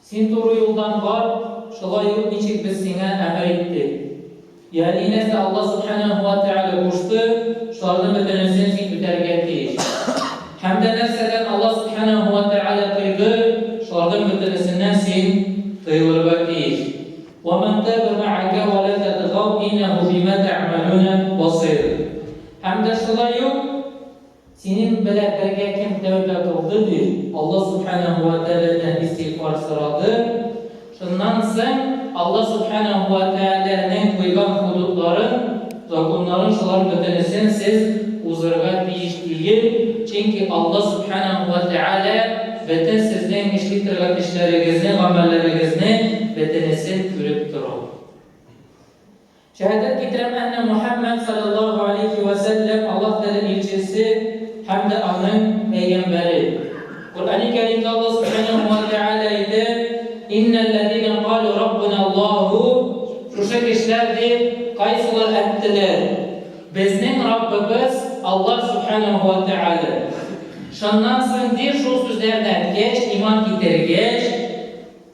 Син туры юлдан бар, шулай юк ничек без сиңа әмер иттек. Ягъни нәрсә Аллаһ Сүбхәнәһү вә Тәгалә кушты, шуларның бөтенесен син үтәргә тиеш. Һәм дә нәрсәдән Аллаһ Сүбхәнәһү вә Тәгалә тыйды, шуларның бөтенесеннән син тыелырга тиеш. Вә ман тәбә мәгәкә вә лә тәтгау иннәһү бимә тәгъмәлүнә басыйр. Һәм дә шулай юк Синең белә бергә кем тәүбә кылды, дип, Алла Сүбхәнәһү вә Тәгаләдән истигъфар сорады, шуннан соң Алла Сүбхәнәһү вә Тәгаләнең куйган худудларын, законнарын шулар бөтенесен сез узырга тиеш тиел, чөнки Алла Сүбхәнәһү вә Тәгалә бөтен сезнең эшли торган эшләрегезне, гамәлләрегезне бөтенесен күреп тора. Шәһадәт китерәм әннә Мөхәммәд салләллаһу галәйһи вә сәлләм Аллаһ Тәгалә илчесе һәм дә аның пәйгамбәре. Коръәни Кәримдә Аллаһ субханәһү вә тәгалә әйтә, Иннәл ләзинә калу Раббуна Аллаһу, шушы кешеләр дип кайсылар әттеләр, Безнең Раббыбыз Аллаһ субханәһү вә тәгалә. Шуннан соң ди, шул сүзләрне әткәч, иман китергәч,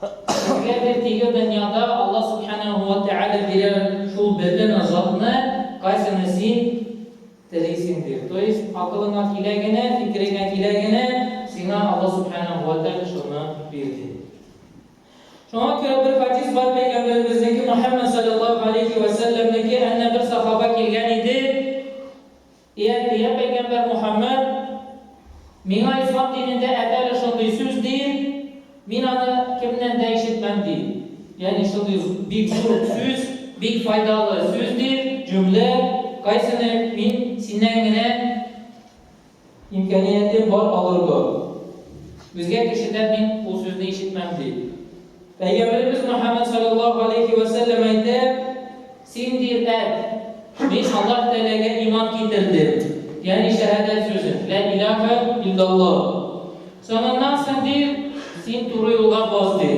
Сезгә бер тиге дөньяда Алла Сүбхәнәһү вә Тәгалә бирә шул бер генә затны, кайсыны син телисең ди. То есть, акылыңа килә генә, фикереңә килә генә, сиңа Алла Сүбхәнәһү вә Тәгалә шуны бир ди. Шуңа күрә бер хадис бар Пәйгамбәребезнеке Мөхәммәд салләллаһу галәйһи вә сәлләмнеке, әнә бер сахаба килгән иде, И Әнбия пәйгамбәр Мөхәммәд, миңа ислам динендә әтәле шундый сүз диен, мин аны кемнән дә ишетмәм, ди. Ягъни шундый бик зур сүз, бик файдалы сүз диен, җөмлә, кайсыны мин синнән генә имкәниятем бар алырга? Үзгә кешедән мин ул сүзне ишетмәм, ди. Пәйгамбәребез Мөхәммәд салләллаһу галәйһи вә сәлләм әйтә. Син, ди, әйт, Мин Аллаһ Тәгаләгә иман китердем, ягъни шәһадәт сүзен, Лә илаһә илляллаһ. Соңыннан соң, ди, син туры юлга бас, ди,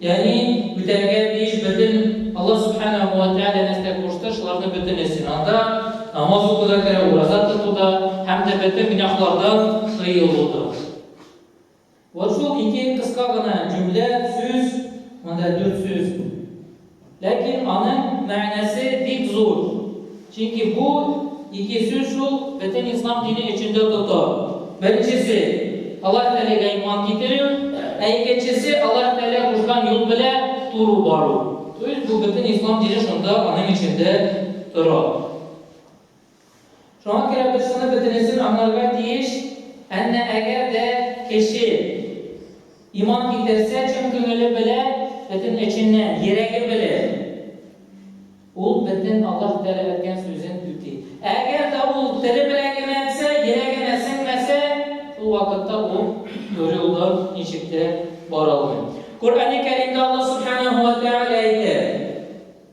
ягъни үтәргә тиеш бөтен Аллаһ Сүбхәнәһү вә Тәгалә нәрсә кушты, шуларның бөтенесен, анда намаз уку да керә, ураза тоту да һәм дә бөтен гөнаһлардан тыелу да. Вот шул ике кыска гына җөмлә, сүз, монда дүрт сүз, ләкин аның мәгънәсе бик зур, чөнки бу ике сүз шул бөтен ислам дине өчен дә тота. Беренчесе, Аллаһ Тәгаләгә иман китерү, ә икенчесе, Аллаһ Тәгалә кушкан юл белән туры бару. То есть бу бөтен ислам дине шунда аның эчендә тора. Шуңа күрә без шуны бөтенесен аңларга тиеш, әннә әгәр дә кеше иман китерсә, чын күңеле белән, бөтен эченнән, йөрәге белән, ул бөтен Аллаһ Тәгалә әйткән сүзен үти. Әгәр дә ул теле белән генә әйтсә, йөрәгенә сеңмәсә, шул вакытта ул туры юлда ничек тә бара алмый. Коръәни Кәримдә Аллаһ Субханаһу ва Тәгалә әйтә.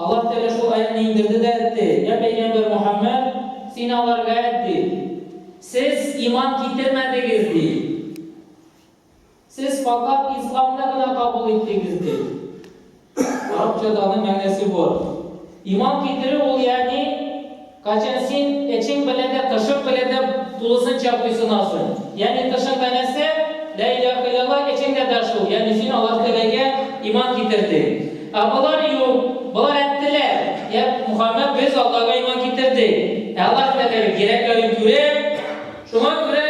Аллаһ Тәгалә шул аятьне иңдерде дә әйтте, Йә пәйгамбәр Мухаммәд, син аларга әйт ди, сез иман китермәдегез ди. Сез факат исламны гына кабул иттегез ди. Арабчаданың мәгънәсе бу. Иман китерү ул ягъни Качан син эчең белән дә, тышың белән дә тулысынча буйсынасың, ягъни тышың да нәрсә, Лә илаһә илляллаһ, эчеңдә дә шул, ягъни син Аллаһ Тәгаләгә иман китердең. Ә болар юк, болар әйттеләр, Йә Мухаммәд, без Аллага иман китердек, ә Аллаһ Тәгалә йөрәкләрен күрә, шуңа күрә,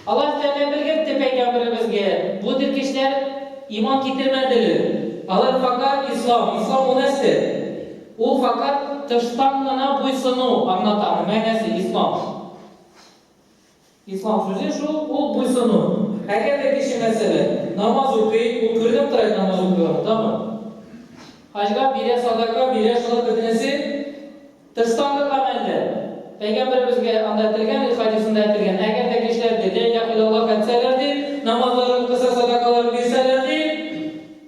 Алар тәмам белгертте пәйгамберебезгә, бу теркешләр иман китермәделе. Алар факат ислам, ислам ул нәрсә? Ул факат тыштан гына буйсыну, аңлатам, мәгънәсе ислам. Ислам сүзе шул, ул буйсыну. Әгәр дә кеше, мәсәлән, намаз укый, ул күренеп тора инде намаз укыйга, тагын хаҗга бирә, садака бирә, шулар бөтенесе, Тыштагы гамәлдә. Пәйгамбәребезгә анда әйтелгән, ди, хәдисендә әйтелгән, Әгәр дә кешеләр, ди, Лә иляха илляллаһ әйтсәләр, ди, намазларын укыса, садакаларын бирсәләр, ди,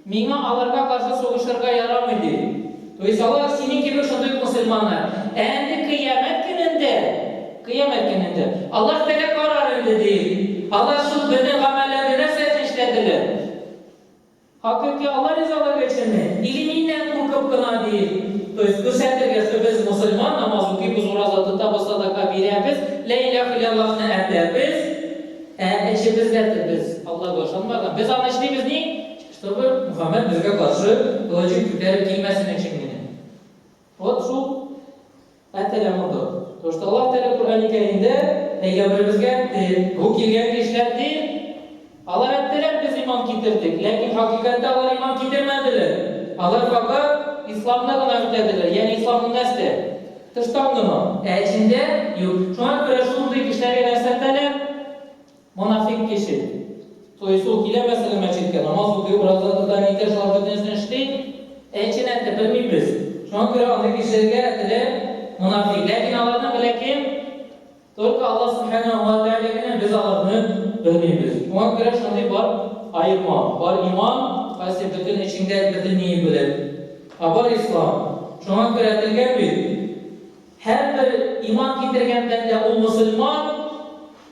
миңа аларга каршы сугышырга ярамый, ди. То есть алар синең кебек шундый ук мөселманнар. Ә инде Кыямәт көнендә, Кыямәт көнендә Аллаһ Тәгалә карар инде, ди, алар шул безнең гамәлләрне нәрсә өчен эшләделәр. Хакыйкый Алла ризалыгы өченме, или миннән куркып кына, диеп, то есть күрсәтергә, что без мусульман, намаз укыйбыз, ураза тотабыз, садака бирәбез, лә иләһ иләллаһны әтәбез, ә эчебез дә тебез, Аллага ышанмаган. Без аны эшлибез ни? Чтобы Мухаммәд безгә каршы кылычын күтәреп килмәсен өчен генә. Вот шул. Ә теле котыр. Тошта Аллаһ Тәгалә Коръәни Кәримдә пәйгамбәребезгә тел, бу килгән кешеләр тел, алар әйттеләр, без иман китердек, ләкин хакыйкатьтә алар иман китермәделәр, алар факат исламны гына үтәделәр, ягъни исламны нәрсә? Тыштан гына. Ә эчендә, юк. Шуңа күрә шундый кешеләргә нәрсә әйтәләр? Монафикъ кеше. То есть ул килә мәсәлән мәчеткә, намаз укый, ураза тота, нитә, шулар бөтенесен эшли, ә эчен әйтеп белмибез. Шуңа күрә андый кешеләргә теле монафикъ. Ләкин аларны белә кем? Только Аллаһ Субханәһү ва Тәгалә генә, без аларны белмибез. Шуңа күрә шундый бар аема. Бар иман, кайсы бөтен эчеңдә бөтен ният белән. Ә бар ислам. Шуңа күрә әйтелгән бит, һәрбер иман китергән бәндә ул мөселман,